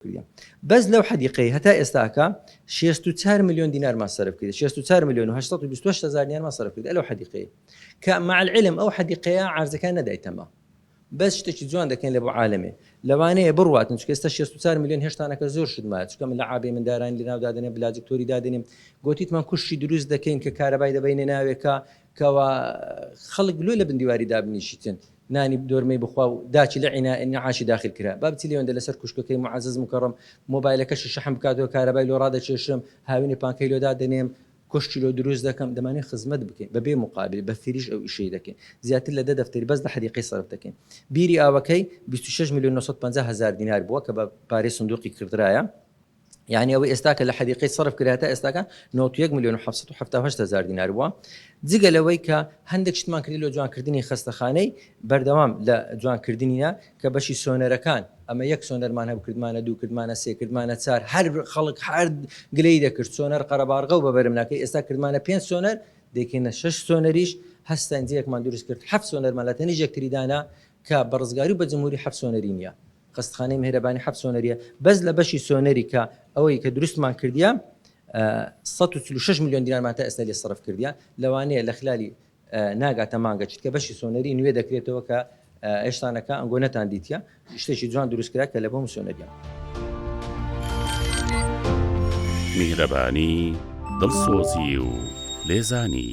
کردیە بەس لەو حەدیقەی هەتا ئێستاکە شێست و چار ملیۆن دینارمان سەرف کردیە شێست و چار ملیۆن و هەشت سەد و بیست و هەشت هەزار دینارمان سەرف کردیە لەو حەدیقەی کە مع العلم ئەو حەدیقەیە عەرزەکان نەدایتەمە بەس شتێکی جوان دەکەین لە بۆ عالەمێ لەوانەیە بڕواتن چکە ئێستا شێست و چار ملیۆن هێشتانەکە زۆر شت مایە چکە من لە عابێ مندارانی لەناو دادەنێم بلاجکتۆری دادەنێم گوتیتمان کوشتی دروست دەکەین کە کارەبای دەبینە ناوێکە کوا خەڵک لۆ لە بن دیواری دابنیشیتن نانی دۆرمەی بخوا و داچی لە عینا انعاشی داخل کرا با بچی لێوەندە لەسەر کوشکەکەی معەزەز مکەڕەم مۆبایلەکەشی شەحن بکاتەوە کارەبای لۆ ڕادەکێشم هاوینی پانکەی لۆ دادەنێم کۆشکی لۆ دروست دەکەم دەمانەوێ خزمەت بکەین بە بێ مقابل بە فریش ئەو ئیشەی دەکەین زیاتر لە دە دەفتەری بەس دە حەدیقەی سەرف دەکەین بیری ئاوەکەی بیست و شەش ملیۆن نۆ سەد و پەنجا هەزار دینار بووە کە بە پارەی سندوقی کردرایە یانی ئەوەی ئێستا کە لە حەدیقەی سەرف کرا تا ئێستاکە 91 ملیۆن و 778 هزار دینار بووە جگە لەوەی کە هەندێک شتمان کردی لە جوانکردنی خستەخانەی بەردەوام لە جوانکردنیە کە بەشی سۆنەرەکان ئەمە یەک سۆنەرمان هەب کردمانە دوو کردمانە سێ کردمانە چار هەر خەڵک حرد گلەی دەکرد سۆنەر قەرەبارغە و بەبەرم ناکەی ئێستا کردمانە پێنج سۆنەر دەکەینە شش سۆنەریش هەستەنجەیەکمان دروست کرد هەفت سۆنەرمان لە تەنیژێک تریدانە کە بە ڕزگاری و بە جمهوری حەفت سۆنەری نیە خەستخانەی مێهرەبانی حەفت سۆنەریە بەس لە بەشی سۆنەری کە ئەوەی کە دروستمان کردیە سەد و چل و شەش ملیۆن دینارمان تا ئێستا لێ سەرف کردیە لەوانەیە لە خلالی ناگاتە مانگە چتکە بەشی سۆنەری نوێ دەکرێتەوە کە ئێشتانەکە ئەنگۆ نەتان دیتیە شتێکی جوان دروست کرا کە لە بۆم سۆنەریە. میهرەبانی دڵسۆزی و لێزانی.